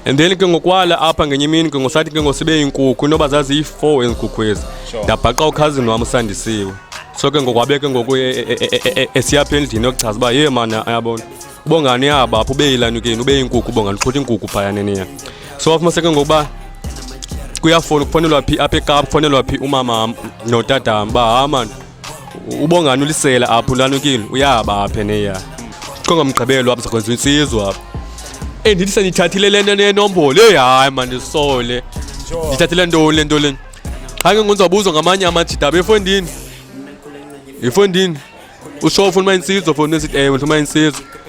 and then ke ngokwala apha ngenye imini ke ngosathi ke ngosibe iinkukhu inoba zaziyi-four ezinkukhu ezi ndabhaqa ukhazini wam usandisiwe so ke ngokwabe ke ngoku esiyapha endlini yokuchaza uba ye mana ayabona ubongani yaba apho ube yilanukeni ube yinkukhu ubongani uqhuthi inkukhu phayaneniya so wafumaseke ngokuba kuyafona kufanelwa phi apha ekapa kufanelwa phi umamam notatam uba ha mani ubongani ulisela apho ulanukile uyaba apha neya kongamgqibelo apha sakwenza insizwa apha endithi sendiyithathile le nto nenombolo eyi hayi mandisole ndithathile ntoni le nto leni qha ke ngonzawubuzwa ngamanye amajita befondini yifondini usho ufuna uma insizwa fondini sithi ewe ndifuna uma insizwa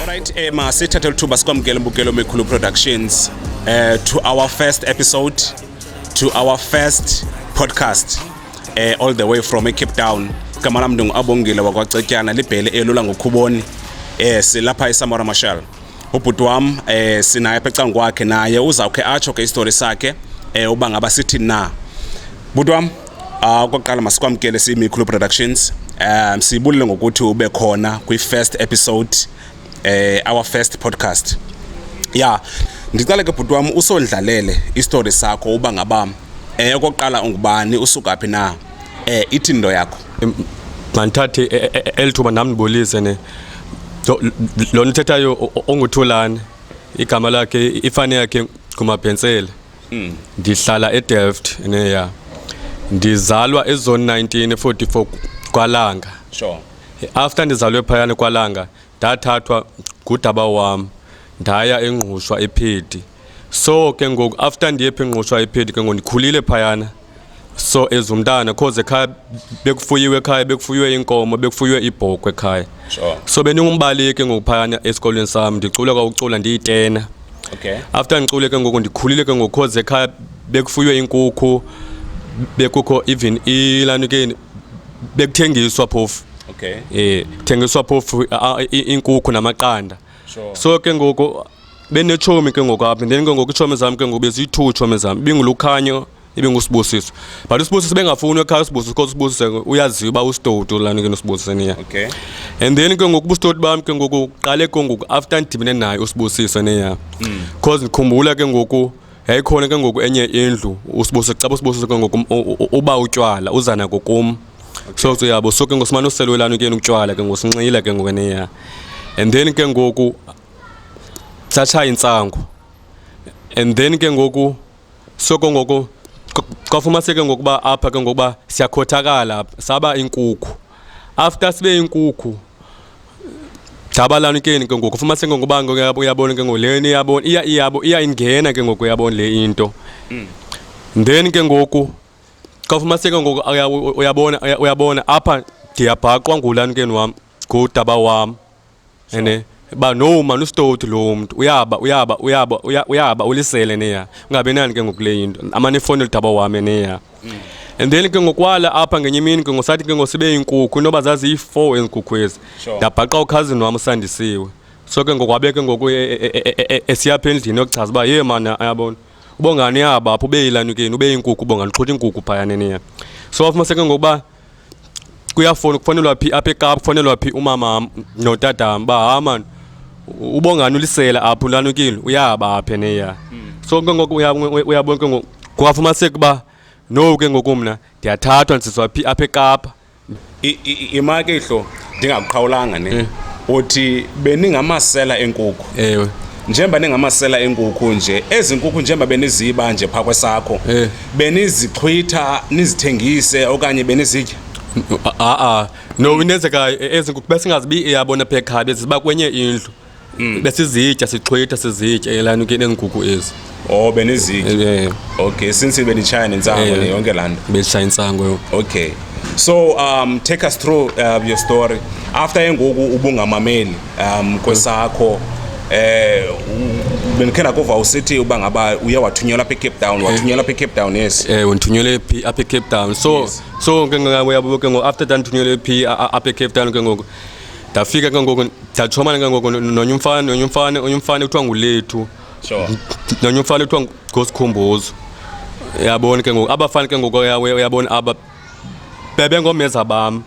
Alright, eh, ma sithatha lithuba sikwamkele Mbukelo Mekhulu Productions eh, to our first episode to our first podcast eh, all the way from Cape Town igama lam ndinguabongile wakwacetyana libhele elula ngokhuboni eh, silapha esamora marshal ubhuti wam eh, sinaye apha ecango kwakhe naye uzawukhe atsho ke isitori sakhe eh, uba ngaba sithi na bhuti wam Ah, okokuqala masikwamkele siyimikhulu productions um siyibulele ngokuthi ube khona kwi-first episode eh, our first podcast ya ndicale ke bhuti wam usondlalele isitori sakho uba ngaba um okokuqala ungubani usuka phi na um ithi nto yakho mandithathe e- e- eli thuba nam ndibulise ne Lo- lo nithethayo o- o- onguthulane igama lakhe ifani yakhe ngumabhentsele Hmm, ndihlala eDelft neya. Ndizalwa ezone 19 44 kwaLanga. Sure. After ndizalwe phayana kwaLanga ndathathwa ngudaba wam ndaya engqushwa ephedi so ke ngoku after ndiye pha engqushwa ephedi ke ngoku ndikhulile phayana so ezumntana cause ekhaya bekufuyiwe ekhaya bekufuyiwe inkomo bekufuyiwe ibhokhwe ekhaya sure. so bendingumbaleki ngokuphayana esikolweni sam ndicule kwakucula ndiyitena okay. after ndicule ke ngoku ndikhulile ke ngoku cause ekhaya bekufuyiwe inkukhu bekukho even ilani ke bekuthengiswa phofu okay. e, kuthengiswa phofu inkukhu namaqanda sure. so ke ngoku benetshomi ke ngoku apha then ke ngoku itshomi zam ke ngoku beziyi-two tshomi zam ibingulukhanyo ibingusibusiso but usibusiso bengafuni ekhaya usibusiso kodwa usibusiso uyaziwa uba usitoti ulani ke nosibusiso niya okay. and then ke ngoku ubusitoti bam ke ngoku qale ke ngoku after ndidibene naye usibusiso niya because ndikhumbula ke ngoku yayikhona ke ngoku enye indlu usibose xa busibose ke ngoku uba utywala uzana kokum so so yabo so ke ngoku simane uselwelana ke utywala ke ngoku sinxile ke ngoku neya and then ke ngoku thatha intsangu and then ke ngoku so ke ngoku kwafumaseke ngokuba apha ke ngokuba siyakhothakala saba inkukhu after sibe inkukhu jabalani ke ke ngoku fuma sengo ngoba uyabona ke ngoleni yabona iya iyabo iya ingena ke ngoku yabona le into mm. then ke ngoku xa fuma sengo ngoku uyabona uyabona apha ndiyabhaqwa ngulani ke wam ngudaba wam ene ba no man usitoti lo mntu uyaba uyaba uyaba uyaba ulisele neya ungabe nani ke ngokule into amane ifoni lidaba wami neya mm. and then ke ngokwala apha ngenye imini ke ngosathi ke ngosibe iinkukhu inoba zaziyi-four ezinkukhu ezi ndabhaqa ukhazini wam usandisiwe so ke ngokwabeke ngoku esiyapha endlini yokuchaza uba ye mana ayabona ubongani yaba apho ubeyilanikeni ubeyinkukhu ubongani uxhutha iinkukhu phaya neneya so afumaseke ngokuba kuyafona kufanelwa phi apha ekapa kufanelwa phi umama notatam uba ha mani ubongani ulisela apha ulanukile uyaba apha neya hmm. so ke ngoku uyabona ke ngoku kungafumaniseka uba no ke ngoku mna ndiyathathwa ndisizwa phi apha ekapa imake ihlo ndingakuqhawulanga ne eh. uthi beningamasela enkukhu ewe njengoba ningamasela enkukhu nje ezi nkukhu njengoba beniziba nje phaa kwesakho eh. benizixhwitha nizithengise okanye benizitya a-a no inenzeka ezi nkukhu besingazibi iyabona pha ekhaya beziba kwenye indlu Mm. besizitya sixhwitha sizitya elani ke neenkukhu ezi Oh beniziki. Eh, Okay, since benitshaya nensango Eh. ne yonke landa. beshaya intsango yo Okay. So um take us through uh, your story. After engoku ubungamameli um kwesakho eh u- benikhe nakuva usithi uba ngaba uye wathunyelwa apha eCape Town, wathunyelwa apha eCape Town yes. ewe ndithunyelwe Eh, phi apha ecape town so Yes. so ke ngoku uyabo ke ngoku after that ndithunyelwe phi a- a- apha ecape town ke ngoku ndafika ke ngoku ndachomana ke ngoku nonye umfana nonye umfana onye umfana kuthiwa ngulethu sure nonye umfana kuthiwa ngosikhumbuzo yabona ke ngoku abafana ke ngoku uyabona aba bebengomeza bam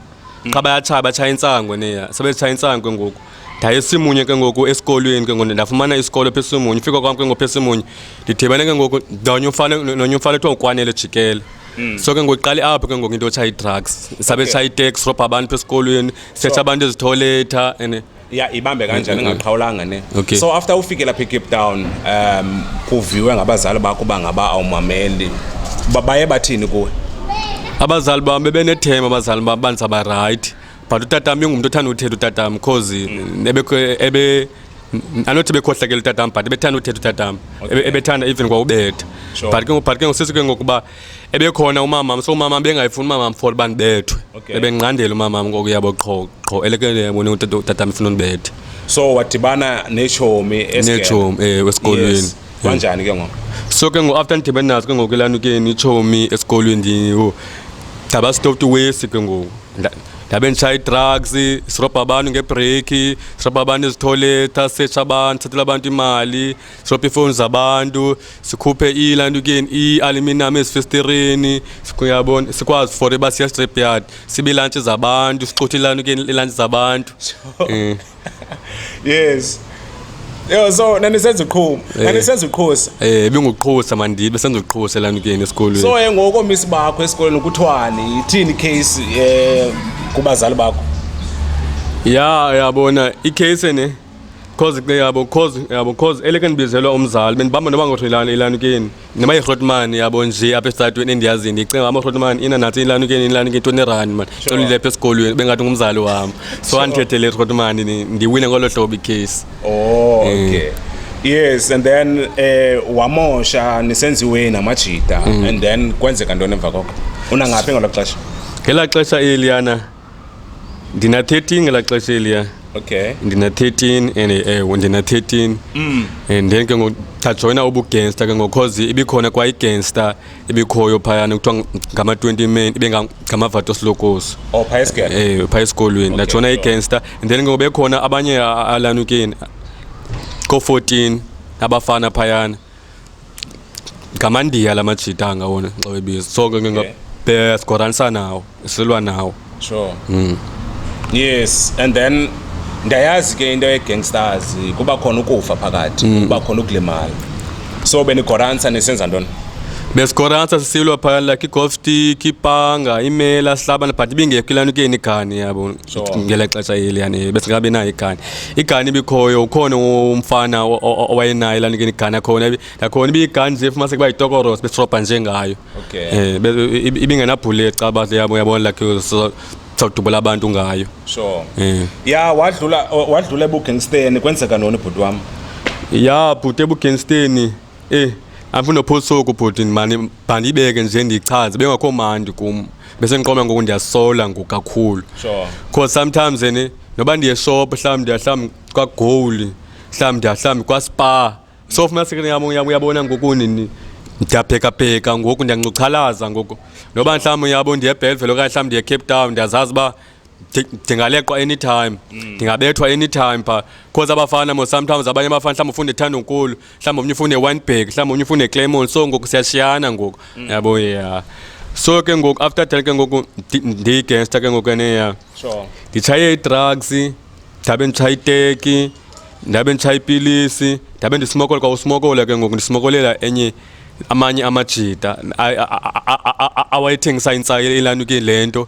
qha bayatshaya batshaya intsango neya sebetshaya intsango ke ngoku ndayesimunye ke ngoku esikolweni ke ngoku ndafumana isikolo phesimunye ufika kwam ke ngoku phesimunye ndidibane ke ngoku ndonye umfana nonye umfana kuthiwa ngukwanele jikele Mm. so ke ngoku iqale apho ke ngoku into yotsha ii-drugs sabe okay. itshayi-tax robha abantu esikolweni setsha abantu ezitholetha and ya ibambe kanjani ingaqhawulanga ne okay. so after ufike lapha ecape town um kuviwe ngabazali bakho uba ngaba awumameli baye bathini kuwe abazali bam bebenethema abazali bam bandisabarayithi but utata wam ingumntu othanda uthetha utata wam because mm. ebe anothi bekhohlakela utata wam but ebethanda uthetha utata wam ebethanda even kwaubetha but ke but ke ngosisi ke ngokuba ebekhona umamam so umamam bengayifuni umamam for uba ndibethwe ebendinqandela umamam ngoku yabo qho qho elekele yabone utata wam ifuna undibethe so wadibana netshomi netshomi ewe esikolweni kanjani ke ngoku so ke ngoku after ndidibene nazo ke ngoku elanukeni itshomi esikolweni ndiyingo gcaba stop to waste ke ngoku ndabe ndishaya ii-drugs sirobha abantu ngebhreyikhi sirobha abantu ezithoyletha setsha abantu sithathela abantu imali sirobha iifowuni zabantu sikhuphe ilanto keni i-aluminum ezifestireni yabona sikwazi for uba siya strip yard sibe ilantshi zabantu sixuthe ilanto keni ilantshi zabantu um yes Yo so nanisenza uqhumo. Eh. Nanisenza uqhosa. Eh benguqhosa mandibe senza uqhosa lana kuyena esikolweni. So eh ngoko miss bakho esikolweni kuthwani? Ithini case eh kubazali bakho? Ya yabona icase ne cause ke yabo cause yabo cause eleke ndibizelwa umzali bendibamba noba ngothoyilana elana kuyena. Nima iRotman yabo nje apha estatweni endiyazi ndicinga ama iRotman ina nathi ilanukeni ilanukeni toni rand man tolile apha esikolweni bengathi ngumzali wam so andithethele iRotman ndiwine ngolo hlobo icase Oh, okay. Yes, and then eh wamosha nisenziwe namajita and then kwenzeka ntoni emva koko? Unangaphi ngelo xesha? ngelaa xesha eliyana ndina 13 ngelaa xesha eliya okay ndina 13 and ewe ndina 13 mm. and then ke ngoku ndajoyina ubugangster ke ngoku cause ibikhona kwa igangster ebikhoyo phayana kuthiwa ngama-20 men ibe nga- ngamavato silokosi oh phaya esigele ewe phaya esikolweni ndajoyina sure. igangster and then ke ngoku bekhona abanye a- alanukeni ko-14 abafana phayana ngamandiya la majita angawona xa webiza so ke ngingabesikoranisa nawo silwa nawo sure mm. yes and then ndiyayazi ke into yegangsters kuba khona ukufa phakathi mm. kuba khona ukulimala so benigoransa nisenza ntoni besikoransa sisilwa phayana like igolf stick ipanga imela sihlabana but ibingekho ilanukeni igani yabo ngele xesha eliyane besingekabi nayo igani igani ibikhoyo ukhona umfana owayenayo laa nike igani akhona nakhona ibiyigani nje fumanise kuba yitokoros besirobha njengayo um eh, ibingenabhulet xa bahle yabo uyabona lakhe sawudubula abantu ngayo sure eh. ya wadlula wadlula ebugangsteni kwenzeka noni bhuti wam ya bhuti ebugangsteni Eh, andinophosa oku bhuti mani bandibeke nje ndichaze bengakho mandi kum besendiqoma ngoku ndiyasola ngoku kakhulu Sure. cause sometimes ni noba ndiyeshop mhlawumbi ndiyahlawumbi kwagowuli mhlawumbi ndiyahlawumbi kwaspa so fumasekeni yam uyam uyabona ngoku nini ndiyaphekapheka ngoku ndiyancuchalaza ngoku noba mhlawumbi uyabo ndiyebelvele okanye mhlawumbi ndiyecape town ndiyazazi uba ndingaleqwa anytime mm. ndingabethwa anytime pha cause abafana mo sometimes abanye abafana mhlawumbi ufuna ithanda unkulu mhlawumbi omnye ufuna ewinberg mhlawumbi omnye ufuna eclaymon so ngoku siyashiyana ngoku mm. yabo ya so ke ngoku after ten ke ngoku ndiyigangster ke ngoku eneya nditshaye idrugs ndabe nditshaye iteki ndabe nditshaye ipilisi ndabe ndisimokola kwa usimokola ke ngoku ndisimokolela enye amanye amajita awayethengisa intsayo elanukile le nto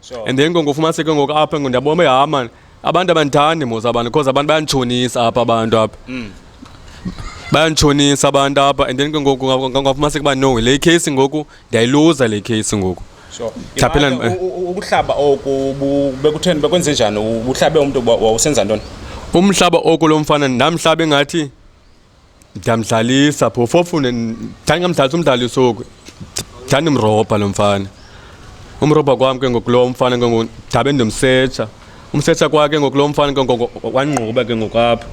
Sure. And then ke ngofumaniseke ngoku apha ngo ndiyabona uba hayi mani abantu abandithandi mos abantu because abantu bayanditshonisa apha abantu apha mm. bayanditshonisa abantu apha and then ke ngoku ngafumaniseke uba no le case ngoku ndiyayiluza le case ngoku sure. Thaphela- Imane, eh. u- u- ukuhlaba oku bu- bekutheni bekwenze njani uhlabe umntu wa- wawusenza ntoni umhlaba oku lo mfana ndamhlaba engathi ndiyamdlalisa phofu ofune ndandingamdlalisa umdlali usuku ndandimrobha lo mfana umrobha kwam ke ngoku lo mfana ke ngoku ndabe ndimsetsha umsetsha kwakhe ngoku lo mfana ke ngoku wangquba ke ngoku apha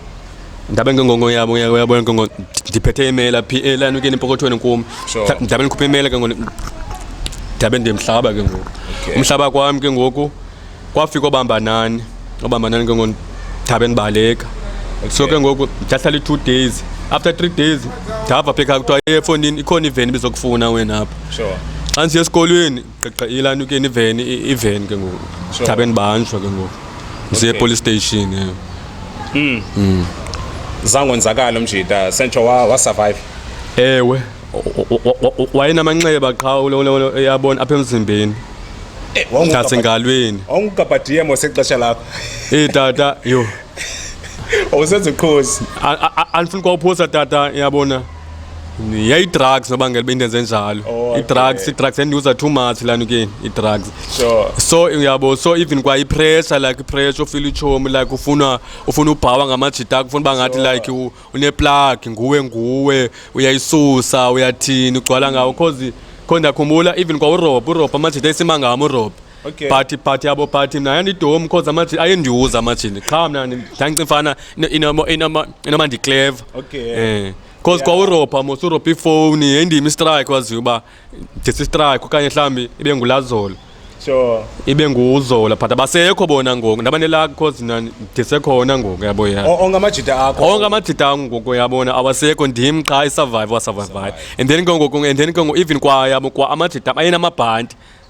ndabe ke ngoku yabo uyabona ke ngoku ndiphethe imela phi elani ukeni empokothweni kum ndabe ndikhuphe imela ke ngoku ndabe ndimhlaba ke ngoku umhlaba kwam ke ngoku kwafika obamba nani obamba nani ke ngoku ndithabe ndibaleka so ke ngoku ndahlala i-two days after three days ndava phe kha kuthiwa efondini ikhona iveni bizokufuna wena apha sure xa ndisiya esikolweni gqiqa ilani ukeni iveni i- iveni ke ngoku Sure. ndithabe ndibanjwa ke ngoku ndisiye Okay. epolice station ewe zangonzakala umjita sentsho wa- wasurvive ewe wayenamanxeba qha yabona apha emzimbeni eh, nasengalweni wawungukabhadiyem wasexesha lakho eyi tata yho wawusenza uqhozi andifuni kwawuphosa tata yabona yayidrugs nobangela uba into enze njalo oh, idrugs idrugs endiuza too much lana ke idrugs so uyabo so even kwa ipressure like ipressure ufila itshomi like ufuna ufuna ubhawa ngamajita akho ufuna uba ngathi like uneplagi nguwe nguwe uyayisusa uyathini ugcwala ngawo cause kho ndiyakhumbula even kwa urob urob amajita esima ngam urob Okay. phathi phathi yabo phathi mna yandidomi cause amajita ayendiwuza amajini qha mna ndandicimfana inoma ndikleva Okay. um cause kwa uropa mos uropa ifowuni yendima istrike waziyo uba ndisistrike okanye mhlawumbi ibe ngulazolo sure ibe nguzola but abasekho bona ngoku ndabanelaka because mna ndisekhona ngoku yabo ya O- onke amajita akho onke amajita angu ngoku yabona awasekho ndim qha isurvive wasurvivayo and then ke ngoku and then ke ngoku even kwa yabo kwa amajita am ayenamabhanti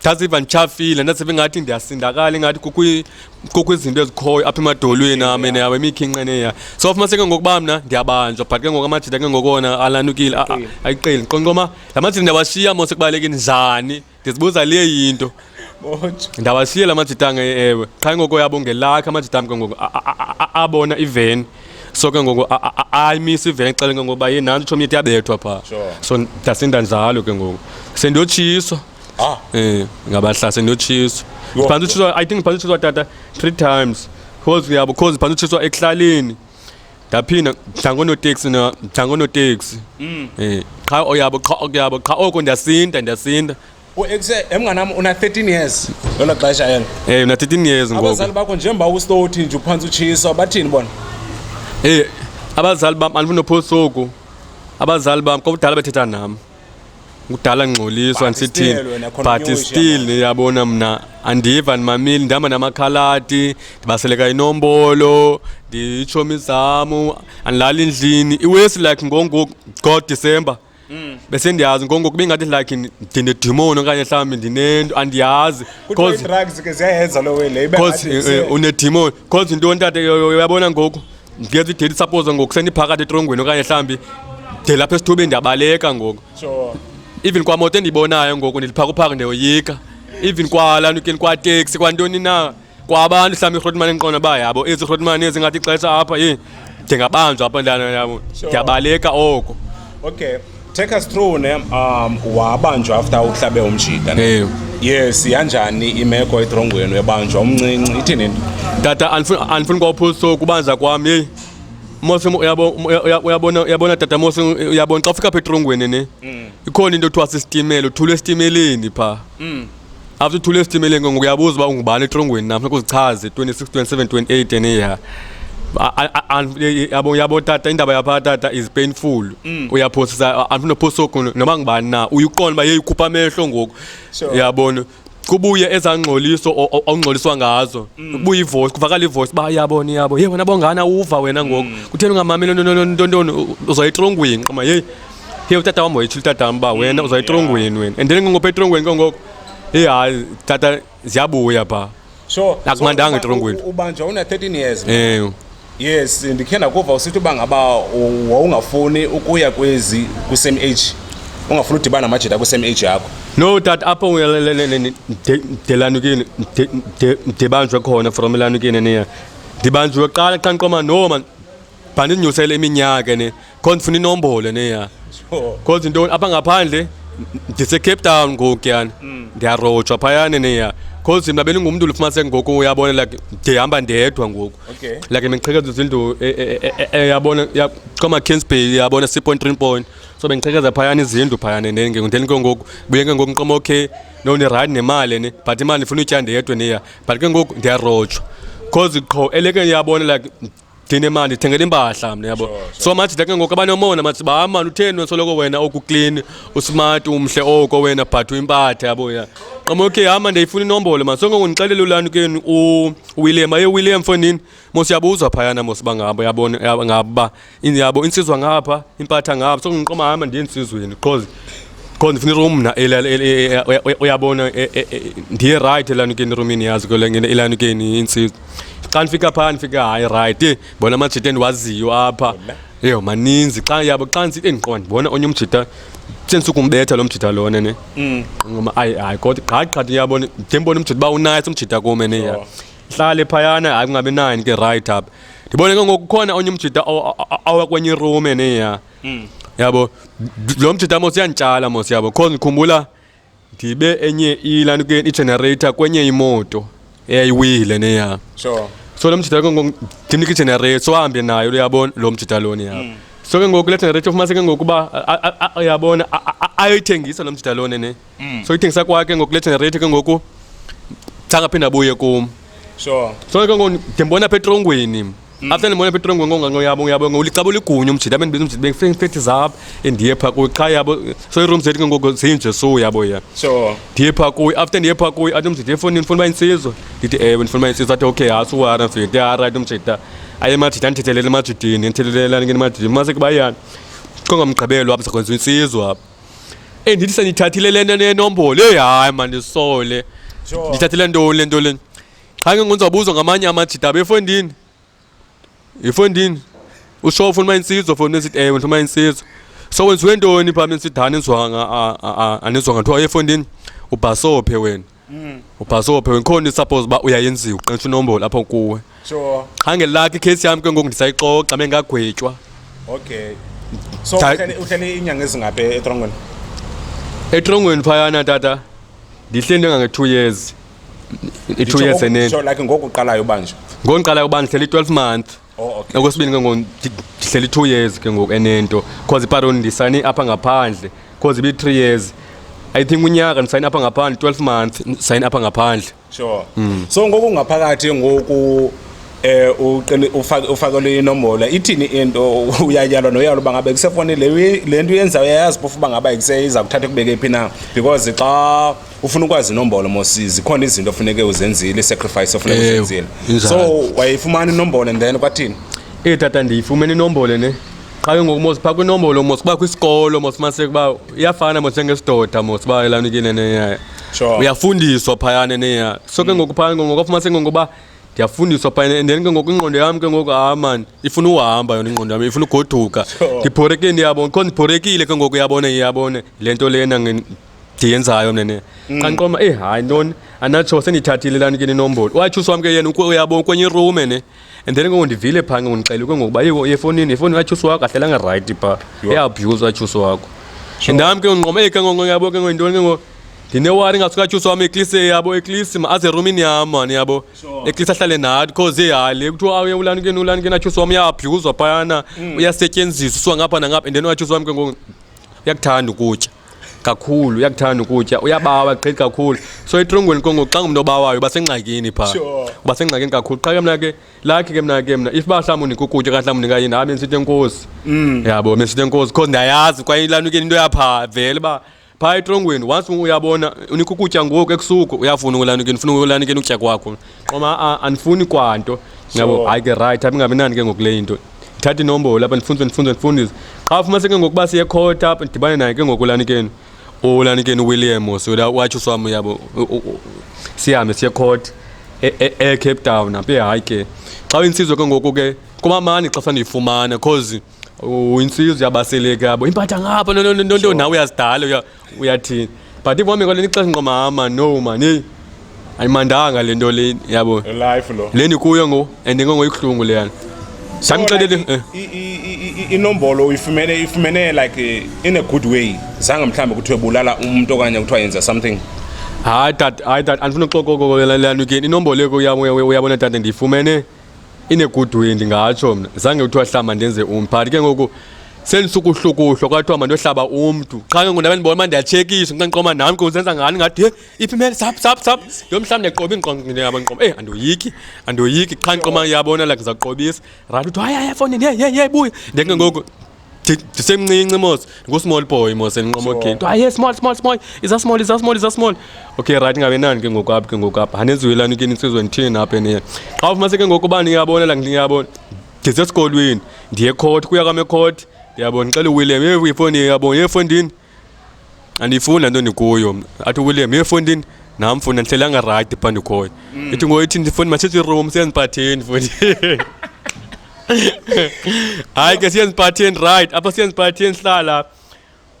ndasiva nditshafile ndasiva ingathi ndiyasindakala ingathi kukho izinto ezikhoyo apha emadolweni am and yawo imikhinqeneya so ufumanise ke ngokuba mna ndiyabanjwa but ke ngoku amajita ke ngokona alanukile ayiqeli qonqoma la majita ndiyawashiya mose kubaleke njani ndizibuza le yinto ndawashiye la majita ange ewe qha ngoko yabo ngelakhe amajita am ke ngoku abona iveni so ke ngoku ayimisa iveni xele ke ngokuba ye nantso utshomi yethu yabethwa phaa so ndasinda njalo ke ngoku sendiyotshiswa ah eh ngabahlase ndotshiswa Yho. phantsi utshiswa i think phantsi utshiswa tata three times because uyabo because phantsi utshiswa ekuhlaleni ndaphinda mhlangonoteksi na mhlangonoteksi Mm. eh qha oyabo qha okuyabo qha oko ndiyasinda ndiyasinda uekuse emnganam una 13 years lelo xesha elo eh una 13 years ngoku abazali bakho njengoba ustothi nje uphantsi utshiswa bathini bona eh abazali bam andifuna uphosoku abazali bam kodwa bethetha nam kudala ngxoliswa ndisithini but still niyabona mna andiva ndimamile ndihamba namakhaladi ndibaseleka inombolo nditshomi zamu andilali endlini iwesi like ngongoku god december mm. bese ndiyazi ngongoku bengathi like ndinedimoni okanye mhlawumbi ndinento andiyazi because eh, eh, unedimoni Cause yintoni tata uyabona ngoku ndiyeza ideli suppose ngoku sendiphakathi etrongweni okanye mhlawumbi de lapha esithubeni ndiyabaleka ngoku even kwamoto endiyibonayo ngoku ndiliphakuphaka ndiyoyika even kwala nukeni kwateksi kwantoni na kwabantu mhlawumbi irhotmane endiqona uba yabo ezi rhotmane ezingathi ixesha apha yini ndingabanjwa apho ndana yabo ndiyabaleka oko okay take us through ne um wabanjwa after uhlabe umjita ne yes yanjani imeko etrongweni webanjwa umncinci ithini into tata andifuni kwaphuso kubanza kwam yeyi mose uyabona uyabona tata mose uyabona xa ufika apha etrongweni ne mm. ikhona into ekuthiwa sisitimela uthula esitimeleni phaa mm. after uthule esitimeleni ngoku uyabuza uba ungubani etrongweni nam funeka uzichaze 26 27 28 and yeah yabo yabo tata indaba yapha tata is painful mm. uyaphosisa andifuna uphosa oku noba ngubani na uyuqonda uba yeyikhupha amehlo ngoku yabona kubuye ezangxoliso ongxoliswa ngazo mm. kubuye ivoice kuvakala ivoice ba yabona iyabo ye wena bongana uva wena ngoku mm. kutheni ungamameli ntontoni uzoyitrongwini qoma yeyi Hey utata wami wethu utata wami ba wena mm, uzayitrongweni wena. And then ngingophe itrongweni kangoko. Hey hayi tata ziyabuya pha. So akumandanga itrongweni. Ubanja una 13 years. Eh. Yes, ndikhe ndakuva usithi uba ngaba wawungafuni ukuya kwezi kwi-same age ungafuni udibana namajita kwi-same age yakho no tat apho ndelanukini ndibanjwe khona from elanukini niya ndibanjwe qala qanqoma no man bandinyusele iminyaka ne kho ndifuna inombolo neya kho zintoni apha ngaphandle ndisecape town ngoku kuyana mm. ndiyarojwa phayana neya because mna bendingumntu ulifumanise ngoku uyabona like ndihamba ndedwa ngoku like bendiqhekeza izindlu e, e, e, yabona koma kinsbay yabona si point three point so bendiqhekeza phayana izindlu phayana then ke then ke ngoku buye ke ngoku nqoma okay no ndirayidi nemali ne but imali ndifuna utya ndedwa neya but ke ngoku ndiyarojwa because qho eleke yabona like thina imali ndithengela impahla mna yabo so majida ke ngoku abanomona mathi ba mani utheni wensoloko wena oku clean usmart umhle oko wena but uyimpatha yabo ya qoma okay hamba ndiyifuna inombolo mani sonke ngondixelela ulani keni uwilliam aye william fonini mos yabuzwa phayana mos bangabo yabona ngaba yabo insizwa ngapha impatha ngapha sonke ngiqoma hamba ndiye ensizweni because qho ndifuna irum mna uyabona e, e, e, ndiye rayithi elanukeni erumini yazi elanukeni intsizwa xa ndifika phaa ndifika hayi rayithi bona amajita endiwaziyo apha yho maninzi xa yabo xa ndisithi endiqoba ndibona onye umjita sendisukumbetha lo mjita lona ne mm. ngoma ayi hayi kodwa gqathi qhathi uyabona ndide ndibona umjita uba unaye somjita kume ne ya hlale phayana hayi kungabi nayo ndike rayithi apha ndibone ke ngoku khona onye umjita awakwenye irume ne ya mm. yabo lo mjita mos yantshala mos yabo cause ngikhumbula ndibe enye ilani ke igenerator kwenye imoto eyayiwile neya sure so lo mjita ndimnika igenerator so ahambe nayo uyabona lo mjita loni yabo mm. so ke ngoku le generator ufumanise ke ngokuba uyabona ayoyithengisa lo mjita loni ne mm. so ithengisa kwakhe ngoku le generator ke ngoku sangaphinde abuye kum sure so ke ngoku ndimbona apha etrongweni mm. after ndibona apha etrongweni ngonganqoyabo yabo ngolixabo ligunya umjita abe ndibiza umjita bengifethi zap endiye pha kuyo qha yabo so iroom zethu ke ngoku zinje so yabo ya sure ndiye pha kuyo after ndiye pha kuyo athi umjita efonini ndifuna uba insizwa ndithi ewe ndifuna uba insizwa athi okay hasi uwara mfethu ndithi arayithi umjita aye emajita andithethelele emajitini ndithethelelani ke emajitini maseke bayani kongamgqibelo apha sakwenziwa insizwa apha endithi sendithathile le nto nenombolo eyi hayi mandisole Sure. ndithathile ntoni le nto leni qha ke ngonzawubuzwa ngamanye amajita abe efondini yifondini usho ufuna uma insizwa fondini esithi ewe ndifuna uma insizwa so wenziwe ntoni phaa bensidani nizwanga anizwanga kuthiwa efondini ubhasophe wena Mm. ubhasophe wenkhona i-suppose uba uyayenziwa uqintsha inombolo apho kuwe sure qha ngelakho ikheyisi yam ke ngoku ndisayixoxa bengagwetywa okay so Cha- uhlele uhlele inyanga ezingaphi etrongweni etrongweni phayana tata ndihleli ndengange-two years i-two years eneni sure like ngoku uqalayo ubanje ngoku ndiqalayo uba ndihleli i-twelve month Oh, okay. Okwesibini ke ngoku ndi- ndihleli i-two years ke ngoku enento because iparon ndisayine apha ngaphandle because ibi-three years i think unyaka ndisayine apha ngaphandle twelve month ndisayine apha ngaphandle sure so ngoku ngaphakathi ngoku eh uqini- ufake- ufakelwe inombolo ithini into uyayalwa noyalo uba ngabe kusefoni le uye- le nto uyenzayo uyayazi phofu uba ngaba ikuseyiza kuthatha kubeke phi na because xa ufuna ukwazi inombolo mosi zikhona izinto ofuneke uzenzile sacrifice ofuneke Ewe, uzenzile injalo. so wayifumana inombolo and then kwathini eyi tata ndiyifumene inombolo ne qha ke ngoku mos phaa kwinombolo mos uba kwisikolo mos umaniseke uba iyafana mos njengesidoda mos uba elanukile neya Sure. Mm. uyafundiswa phayana neya so ke ngoku phayana ngoku afumaniseke ngokuba ndiyafundiswa phayana and then ke ngoku ingqondo yam ke ngoku hayi mani ifuna uhamba yona ingqondo yam ifuna ugoduka Sure. ndibhorekile ndiyabona kho ndibhorekile ke ngoku yabona yabona le nto lena nge- ndiyenzayo mna ne mm. qanqoma eyi eh, hayi ntoni anatsho sendithathile lani ke ninombolo watyhusi wam ke yena uyabo kwenye irume ne and then ngoku ndivile phaa ngoku ndixelwe ke ngokuba yiko yefonini yefoni katyhusi wakho ahlelanga rayithi phaa eabhuse watyhusi wakho ndam ke unqoma eyi eh, ke ngoku yabo ke ngoku yintoni ke ngoku ndinewari ngasukatyuso wam eklise yabo eklise aze erumini yam mani yabo eklise ahlale nathi cause eyale kuthiwa awuye ulanikeni ulanikeni atyuso wam uyabhuzwa phayana mm. uyasetyenziswa uswa ngapha nangapha and then uyatyuso wam ke ngoku uyakuthanda ukutya kakhulu uyakuthanda ukutya uyabawa gqithi kakhulu so etrongweni kongo xa ngumntu obawayo uba sengxakini phaa Sure. uba sengxakini kakhulu qha ke mna ke lakhe ke mna ke mna if uba mhlawumbi unika ukutya kanti mhlawumbi unika yini hayi bendisithi enkosi Mm. yabo bendisithi enkosi because ndiyayazi kwaye ilanukeni into yaphaa vele uba phaa etrongweni once uyabona unika ukutya ngoku ekusuku uyafuna ukulanukeni ufuna ukulanukeni ukutya kwakho qoma a andifuni kwanto yabo Sure. hayi ke rayithi apha ingabinani ke ngoku le into ndithathe inombolo apha ndifundise ndifundise ndifundise qha ufumaniseke ngokuba siye court apha ndidibane naye ke ngoku lanikeni ulanikeni uwilliam osola watsho swam yabo sihambe siye court e-, e-, ecape town apha ehayi ke xa uyinsizwe ke ngoku ke kumamani xa sandiyifumana because uyinsizwe yabaseleke yabo impatha ngapha nonto nawe uyazidala uyathini but ibomi kwale nixesha nqomama no mani ayimandanga le nto le yabo life lo le ndikuyo ngo and ngongoyibuhlungu leyana samxelele eh. inombolo uyifumene ifumene like eh, in a good way zange mhlawumbi kuthiwe bulala umntu okanye kuthiwa yenza something hayi tata hayi tata andifuna uxokoko leyana again inombolo yeko yabo uyabona tata ndiyifumene ine-good way ndingatsho mna zange kuthiwa hlamba ndenze umntu but ke ngoku sendisukuhlukuhlwa kwathiwa mandohlaba umntu qha ke ngoku ndabe ndibona uba ndiyatshekiswa nxa ndiqoma nam ke uzenza ngani ngathi he iphi imele sap sap sap yo mhlawumbi ndiqoba ingqonqaba ndiqoba eyi andoyiki andoyiki qha ndiqoma yabona like ndizawuqobisa rayithi uthi hayi hayi efowunini ye ye ye buya ndeke ngoku ndisemncinci mos ngusmall boy mos endinqoma ogate aye small small small iza small iza small iza small okay right ngabe nani ke ngoku apha ke ngoku apha anenziwelani ke nisizwe ndithini apha eniye xa ufumanise ke ngoku uba niyabona la ndiyabona ndisesikolweni ndiye ekhoti kuya kwam ekhoti ndiyabona ndixele uwilliam ye ifoni yabona ye efondini andiyifuni le nto ndikuyo athi uwilliam uyefondini nam funda ndihlelanga rayithi phaa ndikhoyo mm. ithi ngoyithi ndifoni masithi room siyendiphatheni fundi hayi ke siyendiphatheni rayithi apha siyendiphatheni sihlala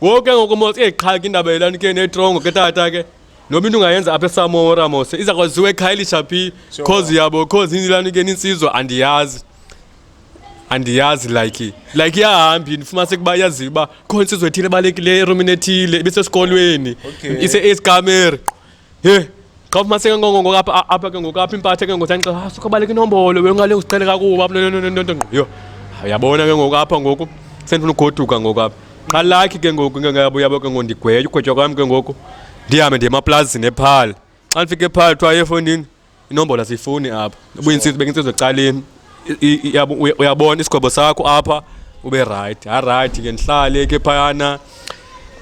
ngoku ke ngoku mos eyiqhaki indaba yelani ke netrongo ke tata ke noba into ungayenza apha esamora mose iza kwaziwa ekhayelitsha phi cause yabo cause inilani ke nintsizwa andiyazi andiyazi like like iyahambi ndifumanise ukuba yazi uba khona insizwe ethile ebalulekileyo erumini ethile ibisesikolweni Okay. ise-escamer he xa ufumaniseke ngongongo apha a- apha ke ngoku apha impathe ke ngotanxa ah sukho baleka inombolo wengale usicele kakuba nontontontonto ngqo yho Ah, uyabona ke ngoku apha ngoku sendifuna ugoduka ngoku apha qha lakhi ke ngoku ke ngabo yabo ke ngoku ndigwetywa ugwetywa kwam ke ngoku ndihambe ndiye emaplazini ephala xa ndifika ephala kuthiwa efondini inombolo asiyifuni apha ubuyinsizi bekinsizwe ecaleni uyabona isigwebo sakho apha ube rayithi harayithi ke ndihlale ke phayana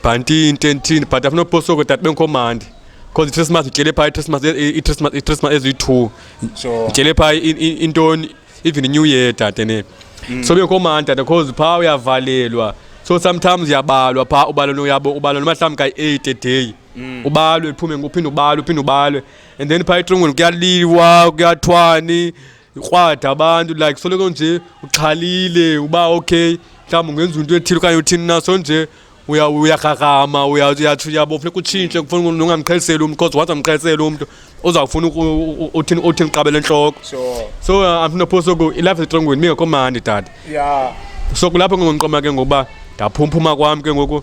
bhanti into enthini but afuna uposoko tata bengikhomandi because i-christmas ndityele phaa i-christmas i-christmas i-christmas eziyi-two ndityele phaa intoni even new year dade ne mm. so bengikhomandi dade because phaa uyavalelwa so sometimes uyabalwa phaa ubalwa uyabo ubalwa noma mhlawumbi kayi-eight a day mm. ubalwe uphume uphinde ubalwe uphinde ubalwe and then phaa etrongweni kuyaliwa kuyathwani krwada abantu like soloko nje uxhalile uba okay mhlawumbi ungenza into ethile okanye uthini na so nje uya- uyagragama uya- uyatsho uyabo funeka utshintshe kufuna umuntu ungamqheliseli umntu because once amqheliseli umntu uzawufuna uku- u- u- uthini uthini qabele entloko Sure. so uh, andifuna phose ku ilife etrongweni mingekho mandi tata Yeah. so kulapho ke ngondiqoma ke ngokuba ndaphumphuma kwam ke ngoku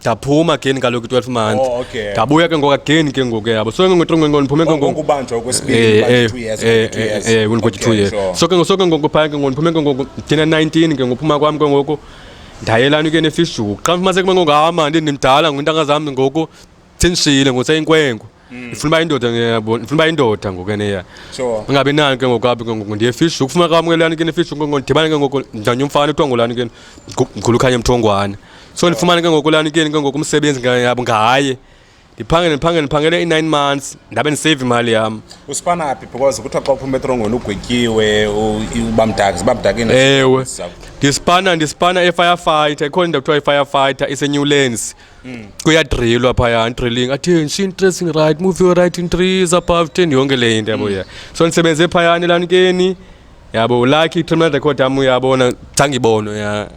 ndaphuma again kaloku i-twelve months oh, okay. ndabuya ke ngoku again ke ngoku yabo so ke ngoku ngoku ndiphume ke ngoku kubanjwa okwesibini eh, eh, two years eh, eh, eh, eh, okay, two years sure. so ke ngoku so ke ngoku phaya ke ngoku ndiphume ke ngoku ndina nineteen ke ngophuma kwam ke ngoku ndayelani ke nefishuku xa ndifumaniseke ke ngoku hama ndindimdala ngwintanga zam ngoku sendishiyile ngoseyinkwenkwe Mm. Ifuna uba indoda ngiyabona, ifuna uba indoda ngoku eneya. Sure. Ungabi nani ke ngoku apha ke ngoku ndiye fish ukufuna kamkelani ke nefish ngoku ndibane ke ngoku ndanye umfana kuthiwa ngolani ke mkhulu khanye mthongwane. So ndifumane ke ngoku lani ke ngoku umsebenzi ngayabo ngaye. Ndiphangele ndiphangele ndiphangele i-9 months ndabe ndisave imali yam. Usifana phi because kuthiwa xa uphuma etrongweni ugwetyiwe uba mdaka ziba mdakeni. Ewe. Ndispana ndispana e-firefighter ikhona into kuthiwa i-firefighter iseNewlands. mm. kuyadrilwa phaya andrilling attention interesting right move your right in trees above ten yonke le into yabo mm. ya so ndisebenze phayana elanikeni yabo lucky terminal record yam uyabona zange ibonwe ya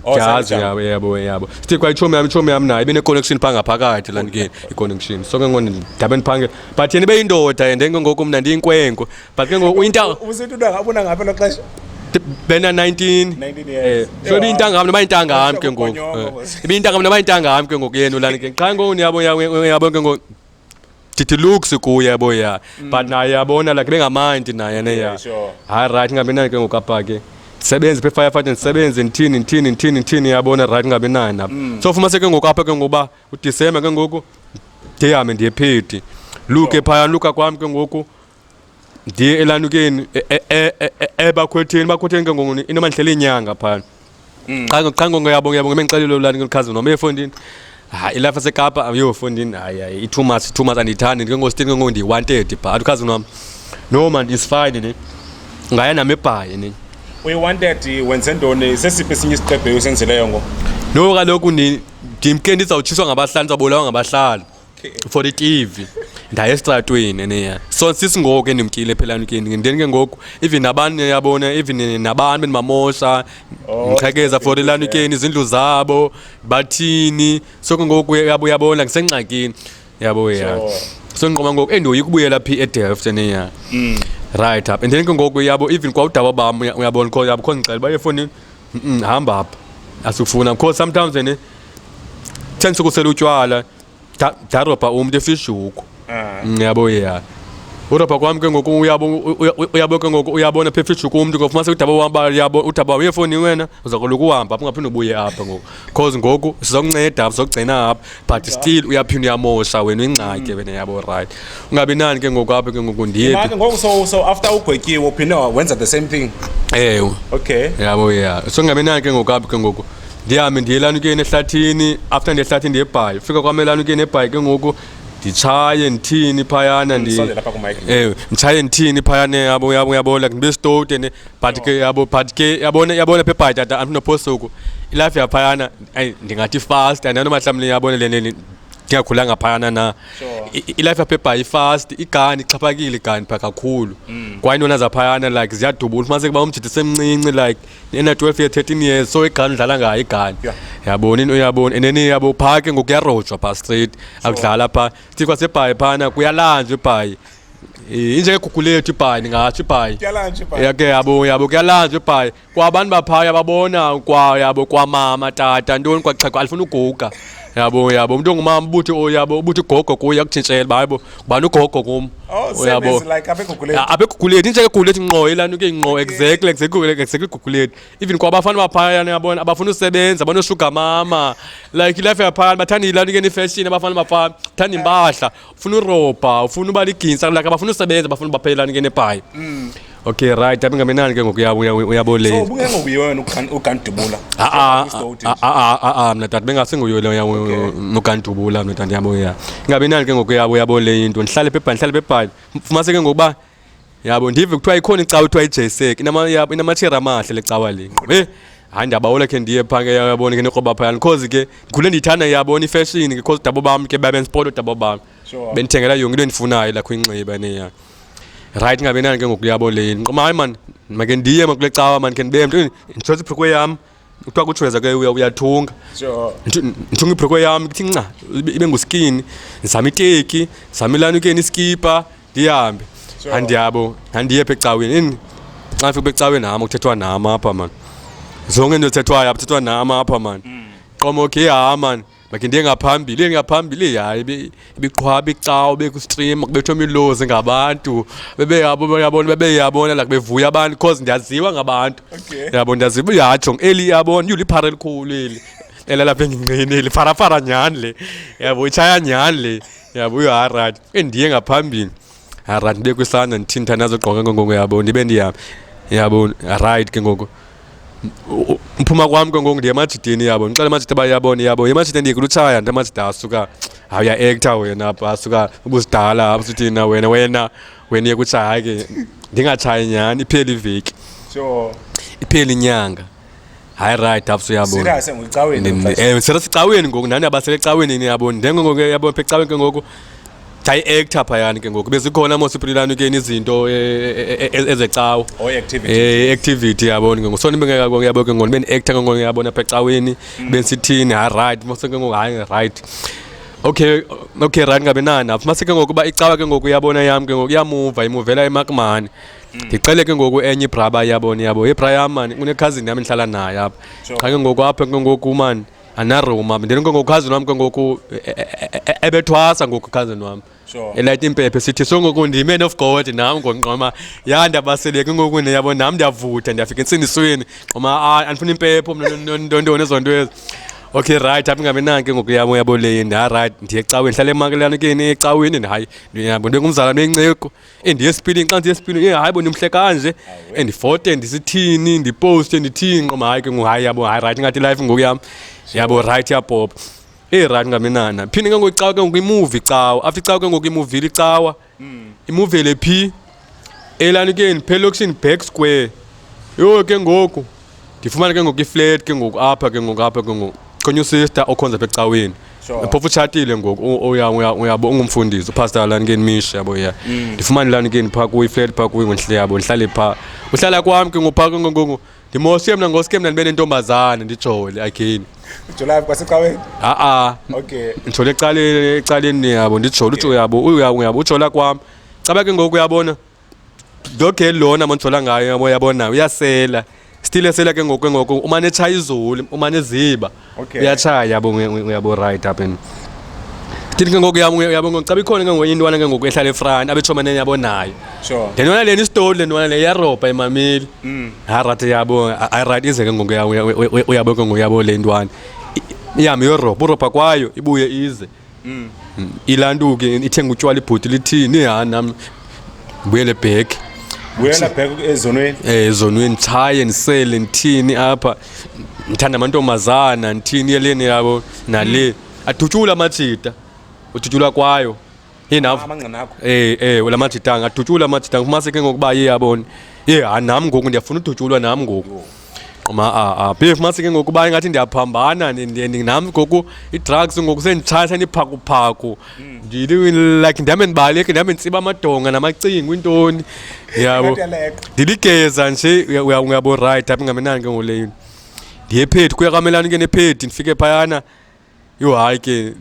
oh, ndiyazi yabo yabo yabo sithi kwayitshomi yam itshomi yam nayo ibene-connection phaa ngaphakathi lanikeni i-connection so ke ngoku ndabe ndiphangela but yena ibe yindoda and engengoku mna ndiyinkwenkwe but ke ngoku intanga ubusithi untanga abona ngaphi elo xesha bena 19 19 years so eh, ibiyintangam noba intangam ke ngoku eh, ibiyintangam noba intangam ke ngoku yenu lani ke qha ngoku niyabo yabo ke ngoku ndithi looks kuye yabo ya mm. but naye yabona like bengamandi naye ne ya hayi right ngabe naye ke ngoku apha ke ndisebenze phe firefighter ndisebenze ndithini ndithini ndithini ndithini yabona right ngabe naye nabo mm. so fumanise ke ngoku apha ke ngokuba udisemba ke ngoku ndihambe ndiye phethi luke phaya luka kwam ke ngoku ndiye elanukeni e- e- e- e- e- ebakhwetheni bakhwetheni ke ngoku inomandihleli inyanga phana qha ngo- qha ngongo yabo yabo ngemendixelile ulanukeni lichaza noma efondini hayi ilapha sekapa yho fondini hayi hayi i-two months two months andiyithandi ndikengositini ke ngoku ndiyi-wanted but ukhazi wam no man is fine ne ngaya nam ebhayi ne uyi-wanted wenze ntoni sesiphi esinye isiqebhe usenzeleyo ngoku no kaloku ndi- ndimke ndizawutshiswa ngabahlali ndizawubulawa ngabahlali for itv ndaye esitratweni neya so sisingoku endimtyile phelani kini ndeni ke ngoku even nabantu yabona even nabantu bendibamosha oh, ndiqhekeza for ilani kini izindlu zabo bathini so ke ngoku yabo yabona ngisengxakini yabo ya so ndiqoma ngoku endiyoyika ukubuyela phi edelft neya mm. right up and then ke ngoku yabo even kwawudaba bam uyabona kho yabo kho ndixela uba efowunini Mm, hamba hapa asifuna because sometimes ne thanks ukusela utywala daropa umntu efishuko ah. mm, yabo ya uropa kwami ke ngoku uyabo ke ngoku uyabona phefishuko umntu kofumasa udaba wamba yabo udaba wefoni wena uzakoloku uhamba ungaphinde ubuye apha ngoku cause ngoku sizokunceda apha sizokugcina apha but still uyaphinda uyamosha wena uyingxatye wena yabo right ungabi nani ke ngoku apha ke ngoku ndiye Manje ngoku so so after ugwetyiwe uphinde wenza the same thing. ewe Okay. yabo ya so ungabi nani ke ngoku apha ke ngoku ndihambe ndiye lana ukuyeni ehlathini after ndiye ehlathini ndiye ebhayi fika kwam elana ukuyeni ebhayi ke ngoku nditshaye ndithini phayana ndi Sondela lapha ku mic. ewe nditshaye ndithini phayana yabo yabo yabo like ndibe stowed and patike yabo patike yabona yabona phebhaty ata antu nopost oku ilife yaphayana ayi ndingathi fast and anoma mhlawumbi yabona le nini ndingakhulanga phayana na I- i- ilife yaphebhayi ifast igani ixhaphakile igani pha kakhulu kwaye intona zaphayana like ziyadubula ufumaniseke uba umjidi semncinci like ena 12 year 13 years so igani udlala ngayo igani Yeah. yabona into yabona and then yabo phaa ke ngoku kuyarojwa phaa straight akudlala phaa thikhwa sebhayi phana kuyalanjwa ebhayi injengegugulo yethu ibhayi ndingatsho ibhayi yake yabo yabo kuyalanjwa ibhayi kwabantu baphaya babona kwa yabo kwamama tata ntoni kwaxheko alifuna uguga yabo yabo umntu ongumama ubuthi oh, yabo ubuthi gogo kuye akutshintshele uba hayibo ubani ugogo kum oh, yabo abeguguleti injengeguguleti nqo ilani ke nqo exactly exactly exactly iguguleti even kwabafana baphaya yabona abafuna usebenza banoshuga mama like ilife yaphaya bathanda ilani ke nifashion abafana baphaya bathanda impahla ufuna uropa ufuna uba liginsa like abafuna usebenza bafuna ubaphelelani ke nepayi mm. okay right apha ingamenani ke ngoku uyaboleni ubungengokuye wena ugandubula aa mna tata bengasenguyo nogandubula mna tata yabo ya ingamenani ke ngoku yabo yabo le into ndihlale pebhani ndihlale pebhani fumaseke ngokuba yabo ndive kuthiwa ikhona icawa kuthiwa ijaysek inamatsheri amahle le cawa le ngqobe hayi ndiyabawole khe ndiye phaa ke yabona ke nekroba phayana because ke ndikhule ndiyithanda yabona ifashion ke because dabo bam ke babenspota dabo bam bendithengela yonke into endifunayo lakho inxiba neya right ngabe nani ke ngoku yabo le nqoma hayi mani make ndiye ma kule cawa mani khe ndibe mntu nditshotsa ibhrukwe yam kuthiwa kutshueza ke uyathunga ndithunga ibhruko yam kuthi nca ibe nguskini ndizame iteki ndizame ilanukeni iskipa ndihambe andiyabo ndandiye pha ecaweni ini xa ndifika pha ecaweni nam kuthethwa nam apha mani zonke into ezithethwayo apha kuthethwa nam apha mani mm. qomo ke hha mani Like ndiye ngaphambili, ndiye ngaphambili yayi ibiqhwaba icawa bekustream kubethwa imilozi ngabantu. Bebe yabo yabona bebe yabona like bevuya abantu because ndiyaziwa ngabantu. Okay. Yabo ndiyaziwa yatsho eli yabona uliphara elikhulu eli. Elalapha engingqini eli fara fara nyani le. Yabo ichaya nyani le. Yabo uyarat. Endiye ngaphambili. right ndibe kwisandla ndithinta nazogqoka ke ngoku yabo ndibe ndiyam yabo right ke ngoku mphuma kwam ke ngoku ndiye emajidini yabo ndixele emajidi uba yabona yabo emajidini ndiye kulutshaya nto emajidi asuka hayi uyaektha wena apha asuka ubuzidala apha suthi na wena wena wena iye kutshaya ke ndingatshayi nyhani iphele iveki iphele inyanga hayi right after uyabona eh, sele sicaweni ngoku nani abasele ecaweni niyabona ndengongoku yabona pha ecaweni ke ngoku ndayi-ektha phayani ke ngoku bezikhona mosipililani ke izinto e, e, e, ezecawa oh, i-activity yabona ke ngoku so ndibengeyabo ke ngoku bendiekta ke ngoku yabona pha ecaweni mm. bensithini hayi right mose ke ngoku hayi right okay okay right ngabe nani apha mase ke ngoku uba icawa ke ngoku yabona yam ke ngoku iyamuva imuvela emakmani Mm. ndicele ke ngoku enye ibraba yabo niyabo ibra yam mani unekhazini yam ndihlala naye apha qha ke ngoku apha ke ngoku mani anaroma ndini ke ngoku khazini wam ke ngoku e, e, e, ebethwasa ngoku khazini wam elayita impephe sithi so ngoku ndiman of god nam ngonqoma ya ndiyabasele ke ngoku ndiyabo nam ndiyavutha ndiyafika entsindisweni nqoma andifuna impepho mna ntontoni ezo nto ezi okay right apha ingabe nanke ngoku yabo yabo leyi ndiyarayithi ndiye ecaweni ndihlale emakelelana keni ecaweni hayi ndiyabo ndingumzalwane wenceku endiye esipilini xa ndiye esipilini ye hayi bo ndimhle kanje endifote ndisithini ndiposte ndithini nqoma hayi ke ngoku hayi yabo hayi rayithi ingathi ilife ngoku yam yabo rayithi yapopa eyi rayithi ngamenana phinde ke ngoku icawa ke ngoku imuvi cawa after icawa ke ngoku imuvile icawa imuvele phi elanukeni phelokishini back square yho ke ngoku ndifumane ke ngoku ifleti ke ngoku apha ke ngoku apha ke ngoku khonye usister okhonza apha ecaweni Sure. phofu utshatile ngoku u- uya- uya- uyabo ungumfundisi upastor lani ke nimishe yabo ya Mm. ndifumane lani ke ndipha kuyo ifleti pha kuyo ngontle yabo ndihlale pha uhlala kwam ke ngopha ke ngoku ndimoshe mna ngoske mna ndibe nentombazane ndijole again Jolaphi kwasecaweni? a-a Okay. ndijole ecaleni ecaleni yabo ndijole uthi uyabo uya- uyabo ujola kwam caba ke ngoku uyabona doge lona monjola ngayo yabo yabona uyasela still esela ke ngoku ngoku umane echaya izulu umane eziba Okay. uyatshaya yabo uye- uye- uyabo right up and still ke ngoku yabo yabo ngoku xa bikhona ke ngoku intwana ke ngoku ehlala efront abetshomane yabo nayo sure le ntwana lena isitoli le ntwana le iyarobha imameli harat yabo irat ize ke ngoku ya- uya- uya- uya- uyabo ke ngoku yabo le ntwana I- ihambe iyorobha urobha kwayo ibuye ize mm. mm. ilantuke ithenga utywala ibhuti lithini ha nam buyele bheki buyela bheki ezonweni eh ezonweni chaye ndisele ndithini apha ndithanda amantombazana ndithini yeleni yabo nale mm. adutyula amajita udutyula kwayo yinav eh eh la majita angadutyula amajita ngifumase ke ngokuba ye yabona ye ha nam ngoku ndiyafuna udutyulwa nam ngoku qoma a a beef mase ke ngoku uba ingathi ndiyaphambana nam ngoku i-drugs ngoku senditshaya sendiphakuphaku hmm. ndili like ndihame ndibaleke ndihame nditsiba amadonga namacingo intoni yabo ndiligeza nje uyabo right apha ingamenani ke ngoleyo ndiye phethi kuya kamelani ke nephedi ndifike phayana Yho hayi ke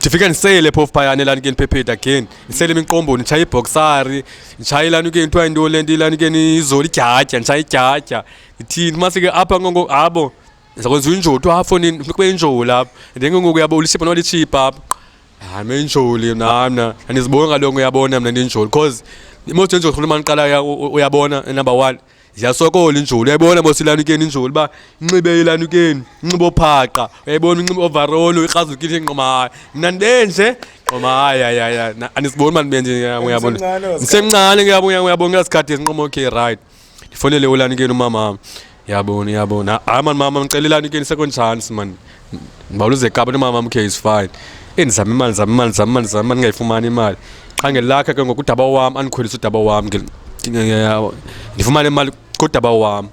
ndifike ndiseyele phofu phayana elani ke ndiphepheda again ndiseyele imiqomboni nditshaye ibhoksari nditshaye ilani ke kuthiwa into le nto ilani ke nizole idyadya nditshaye idyadya ndithini umase ke apha ngongo abo ndizakwenza injoti apho funeka ube injoli apho and then kengoku yabo ulishipha nolitshipha apho hayi menjoli nam mna andiziboni ngalongo uyabona mna ndinjoli because most enjoli rhulumani qala uyabona number one ziyasokola injulu uyayibona mos ilanukeni injulu uba inxibe ilanukeni inxibe ophaqa uyayibona inxibe ovarolo ikrazukile inqomahayi mna ndibe nje nqomahayi ayaya andisiboni uba ndibe nje uyabona ndisemncane kuyabo uyabona kuyasikhathi esinqoma okay right ndifonele ulanukeni umamam yabona yabona hayi mani mama ndicela ilanukeni second chance mani mawuluze kaba nomama mkhe is fine endizama imali ndizama imali ndizama imali ndizama imali ndingayifumani imali qha ngelakhe ke ngoku udaba wam andikhwelisa udaba wam ndifumane imali kodaba wam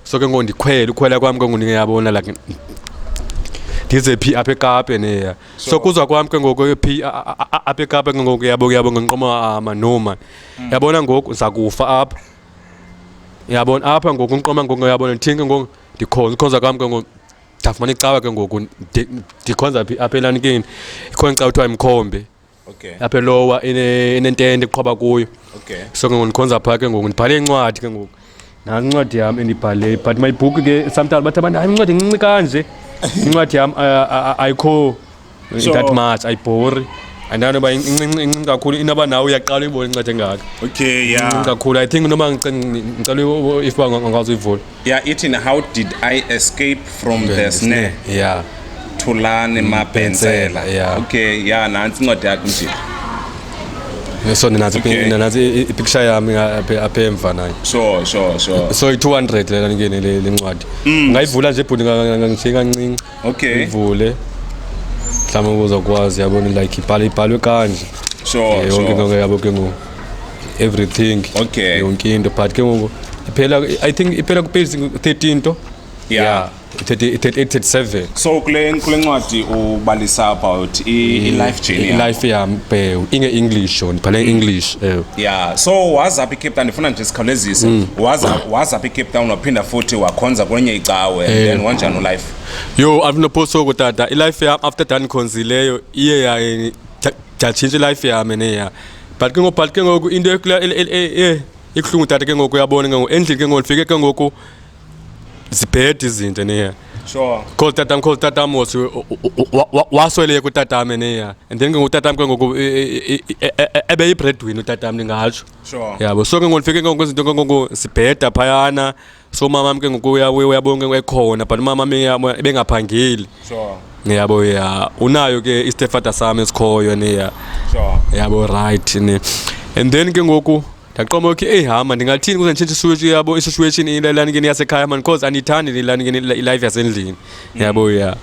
so ke ngoku ndikhwele ukhwela kwam ke ngoku ndingeyabona like ndize phi apha ekape neya so kuzwa kwam ke ngoku phi apha ekape ke ngoku yabo yabo ngenqoma ama ah, no man mm. yabona ngoku ndiza kufa apha yabona apha ngoku unqoma ngoku yabona ndithinke ngoku ndikhonza ukhonza kwam ke ngoku ndafumana icawa ke ngoku ndi- ndikhonza phi apha elanikini ikhona icawa kuthiwa imkhombe Okay. apha elowa ene- enentente kuqhoba kuyo Okay. so ke ngoku ndikhonza phaa ke ngoku ndibhale incwadi ke ngoku nantsi incwadi yam endibhale but my book ke sometimes bathi abantu hayi incwadi incinci kanje incwadi yam a- a- a- ayikho So- that much ayibhori andani uba incinci kakhulu inoba nawe uyaqala uyibona inceda engaka okay ya Incinci kakhulu i think noma ngice- ngicela u- u- if uba ngakwazi uyivula ya ithi na how did i escape from the snare ya thulani mabhensela Bhensela, yeah. okay ya nantsi incwadi yakho mjini so ndinazi Okay. ndinazi ipicture yami aphe- apha emva nayo sure sure sure so i-200 lena ngene le le ncwadi ungayivula nje bhuti ngangishiye kancinci okay ivule mhlawumbe kuzokwazi yabona like ibhale ibhalwe kanje sure Eh, yonke into sure ke yabo ke ngoku everything Okay. yonke into but ke ngoku iphela i think iphela kupage 13 to Yeah. 30 37 so kule kule ncwadi ubalisa about i, i life journey yakho. life yam inge english yona bhale english ewe Yeah, so waza apha eCape Town ndifuna nje sikhawulezise. Mm. Waza waza apha eCape Town waphinda futhi wakhonza kwenye icawe and eh. then wanjani ulife? Yo, I've no post soko tata. Ilife yam after Dan khonzileyo iye ya yatshintsha ilife yam neya. But ke ngoku but ke ngoku into ekula e, e, e, ikuhlungu tata ke ngoku yabona ke ngoku endlini ke ngoku ndifike ke ngoku zibhede izinto niya sure call tatam call tatam was wasweleke utatam niya and then ke ngoku utatam ke ngoku ebe yi-breadwin utatam ndingatsho sure yabo so ke ngoku ndifike ke ngoku izinto ke ngoku zibheda phayana so umamam ke ngoku uyabona ke ngoku ekhona but umamam ebengaphangeli sure ngiyabo ya unayo ke istepfather sami esikhoyo niya sure yabo right ni and then ke ngoku ndaqoma okay eyi hama ndingathini kuze nditshintshe iswitshi yabo isituation ilani ke yasekhaya mani cause andiyithandi ilani ke ilife yasendlini mm. yabo ya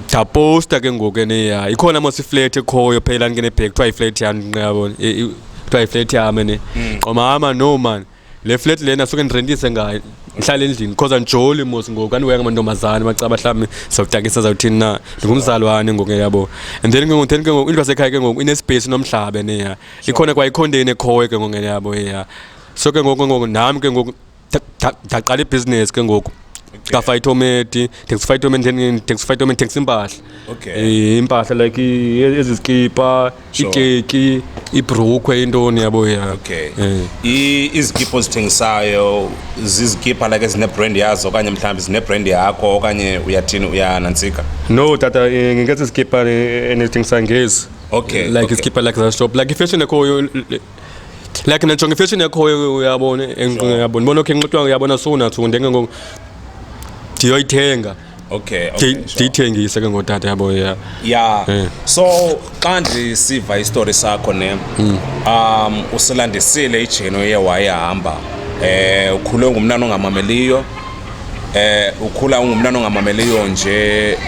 ndaposta ke ngoku eneya ikhona mos iflat ekhoyo phela ndingene bhek kuthiwa iflat yam ndinqabo e, e, kuthiwa iflat yam ene mm. qoma hama no mani le flat lena suke ndirentise ngayo ndihlala endlini because andijoli mos ngoku andiweka amantombazane macaba mhlawumbi sawutakisa zawuthini na ndingumzalwane ngoku yabo and then ke ngoku then ke ngoku into yasekhaya ke ngoku inespace nomhlaba neya ikhona kwayikhondeni ekhoyo ke ngoku yabo ya so ke ngoku ngoku nam ke ngoku ndaqala ibhizinesi ke ngoku kafayithometi taxi fayithometi taxi fayithometi taxi impahla okay eh, impahla like ezi zikipa ikeki ibrukhwe intoni yabo ya okay eh. izikipa ozithengisayo zizikipa like ezinebrand yazo okanye mhlawumbi zinebrand yakho okanye uyathini uyanantsika no tata eh, ngeke sizikipa endizithengisayo ngezi okay like okay. iskipha like za shop like ifashion ekhoyo like najonga ifashion ekhoyo uyabona enqinqa uyabona bona okay nqitwa uyabona sowunathi ndenge ngoku ndiyoyithenga okay ndiyithengise ke ngotata yabo ya ya eh. so xa ndisiva isitori sakho ne hmm. um usilandisile ijeni oye wayehamba um ukhule ngumntana ongamameliyo eh ukhula ungumntana ongamameliyo nje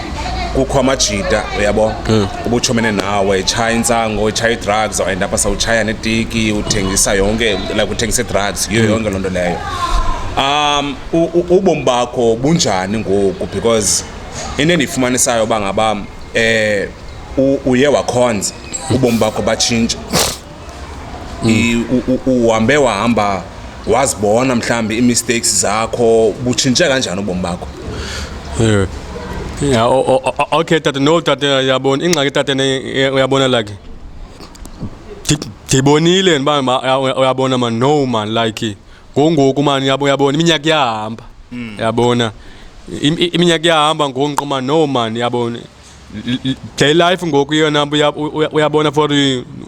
kukho amajita uyabo hmm. ubuchomene nawe echaya intsango echaya i-drugs and apha sawutshaya netiki uthengisa yonke like uthengisa i-drugs yiyo hmm. yonke loo nto leyo um ubomi bakho bunjani ngoku because into endiyifumanisayo uba ngaba um uye wakhonza ubomi bakho batshintsha mm. uhambe wahamba wazibona mhlawumbi ii-mistakes zakho butshintshe kanjani ubomi bakho yeah. Yeah, oh, oh, oh, okay tata no tata yabona ingxaki tata uyabona like ndibonile ndiba uyabona man no man like ngongoku man uyabona iminyaka iyahamba mm. yabona iminyaka iyahamba ngonqo man no man yabona Gay life ngoku yona uyabona for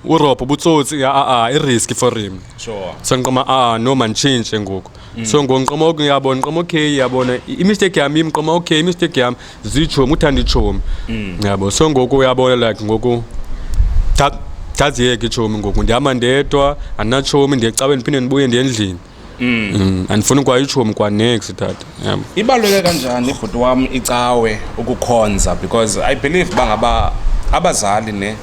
urobho ubutsotsi a-a iriski for him sure so ngiqoma a no man change ngoku mm. so ngoku ngiqoma oku ngiyabona ngiqoma okay yabona imistake yami ngiqoma okay imistake yami zitshomi uthanda itshomi mm. yabo so ngoku uyabona like ngoku ndaziyeke itshomi ngoku ndihamba ndedwa andinatshomi ndiyecaweni ndiphinde ndibuye ndiye endlini Mm, andifuni kwayitshomi kwanex tata yabo ibaluleke kanjani ibhuti wam icawe ukukhonza because i believe uba ngaba abazali ne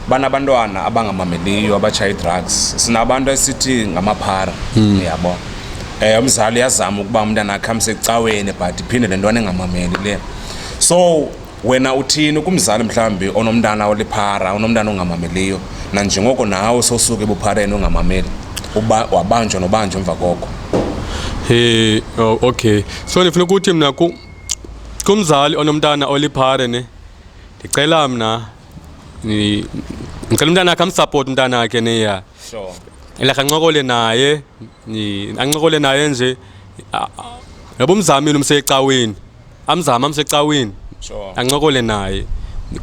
banabantwana abangamameliyo abatshaya ii-drugs sinabantu esithi ngamaphara uyabo um umzali uyazama ukuba umntana akhe amsecaweni but iphinde le ntwana engamameli le so wena uthini kumzali mhlawumbi onomntana oliphara onomntana ongamameliyo nanjengoko nawe sosuke ebuphareni ongamameli wabanjwa nobanjwa emva koko he oh, okay so ndifuna ukuthi mna kumzali onomntana oliphare ne ndicela mna ndicela umntana akhe amsapoti umntana akhe neya sure like ancokole naye ancokole naye nje yabo umzamile umsecaweni amzame amsecaweni Sure. ancokole naye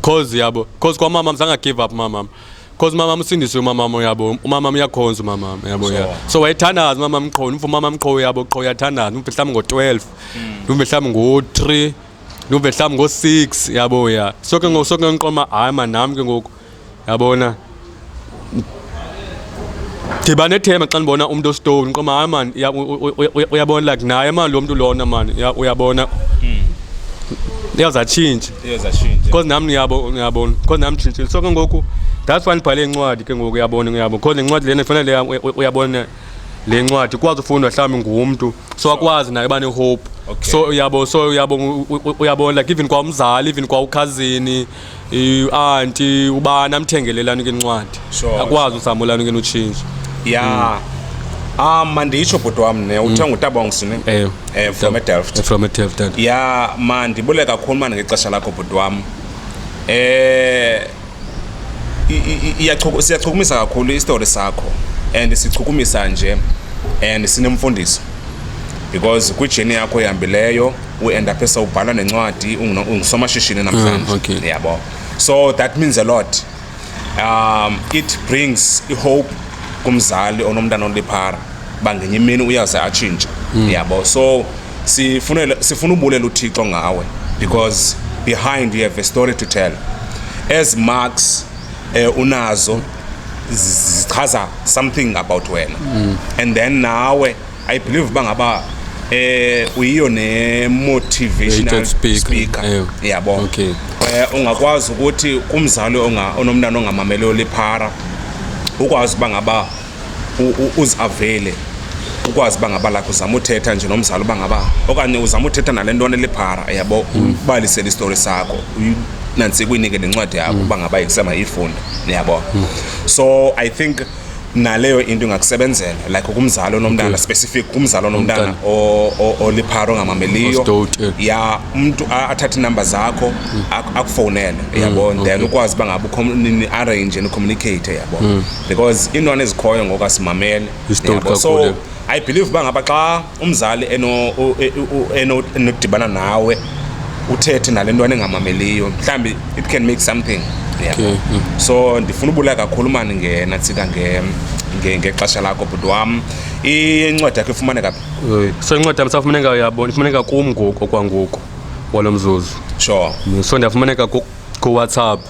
cause yabo cause kwamama mzanga give up mamam cause umamam usindiswe umamam uyabo umamam uyakhonza umamam yabo ya Sure. so wayethandaza umamam qho umfo umamam qho yabo qho uyathandaza umfo mhlawumbi ngo-12 umfo mhlawumbi ngo-3 umfo mhlawumbi ngo-6 yabo ya so ke ngoku so ke ngiqoma hayi manam ke ngoku yabona ndiba nethemba xa ndibona umntu ostone qoma hayi mani uyabona like naye mani lo mntu lona mani uyabona hmm. iyawuzatshintshe because nam ndiyabona because nam nditshintshile so ke ngoku that's why ndibhale incwadi ke ngoku uyabona uyabo because le ncwadi lena ifanele uyabona le ncwadi ikwazi ufundwa mhlawumbi ngumntu so akwazi naye uba nehope so uyabo so uyabo uyabona like even kwamzali even kwaukhazini ianti ubani amthengelelani ke incwadi Sure. akwazi usamulani ke notshintsha ya ah manditsho bhuti wam ne uthe ngutabongs ne ewe Eh, from edelft from edelft dad ya mandibule kakhulu mani ngexesha lakho bhuti wam eh i- i- i- iyachuku- siyachukumisa kakhulu isitori sakho and sichukumisa nje and sinemfundiso because kwijeni yakho ihambileyo uend aphe sowubhala nencwadi ungusomashishini namhlanje ah, okay. yabo so that means a lot um, it brings ihope kumzali onomntana oliphara uba ngenye imini uyaze atshintshe mm. yabo so sifuna sifuna ubulela uthixo ngawe because behind you have a story to tell as marks eh, unazo zichaza something about wena mm. and then nawe I believe uba ngaba eh uyiyo ne motivational speaker yabo okay eh ungakwazi ukuthi kumzali onga onomntana ongamamele oliphara ukwazi uba ngaba uziavele ukwazi uba ngaba lakho uzama uthetha nje nomzali uba ngaba okanye uzama uthetha nale ntwana eliphara yabo ubalisele isitori sakho nansi kuyinike nencwadi yakho uba ngaba ikusema iyifunde niyabo so i think naleyo into ingakusebenzela like kumzali onomntana okay. specific kumzali onomntana oliphara ongamameliyo ya umntu athathe iinumber zakho mm. akufowunele mm, yabo mm, then okay. ukwazi uba ngabe niarrange nicommunicate yabo mm. because iintwana ezikhoyo ngoku asimamele so i believe uba ngaba xa umzali enodibana nawe uthethe nale ntwana engamameliyo mhlawumbi it can make something yeah. okay. mm. so ndifuna ubulaya kakhulu mani ngena tsika ngexesha lakho bhuti wam incwadi yakho ifumaneka phi so incwadi yam safumaneka yabona ifumaneka kum ngoku okwangoku walo mzuzu sure so ndiyafumaneka kowhatsapp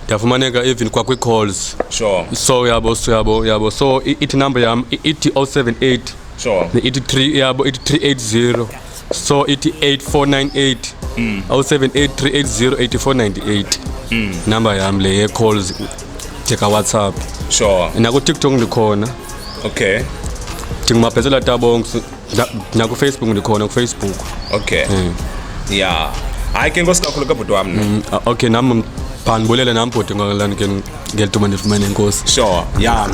yafumaneka even kwakwi-calls sure so yabo so yabo yabo so i- ithi number yam i- ithi 078 sure ne ithi 3 yabo ithi 380 so ithi 8498 078380848 number yam le ye-calls jeka whatsapp sure nakutiktok ndikhona okay ndingumabhetsela tabongs nakufacebook ndikhona kufacebook okay mm. ya hayi ke nkosi kakhulu kabhuti wam mm, okay nam phandibulele nam bhuti ngelituma ndifumane inkosi sure ya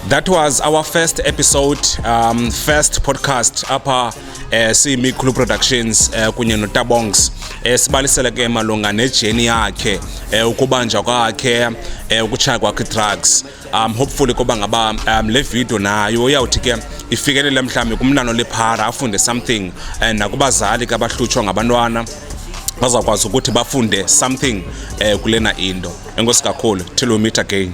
that was our first episode um, first podcast apha eh, siyimikhulu productions eh, kunye notabongs eh, sibalisele ke malunga nejeni yakhe eh, ukubanjwa kwakhe eh, ukutshaya kwakhe drugs um hopefully koba ngaba um le video nayo iyawuthi ke ifikelele mhlawumbi kumntana olephara afunde something and nakubazali ke abahlutshwa ngabantwana bazawukwazi ukuthi bafunde something um kulena into enkosi kakhulu till we meet again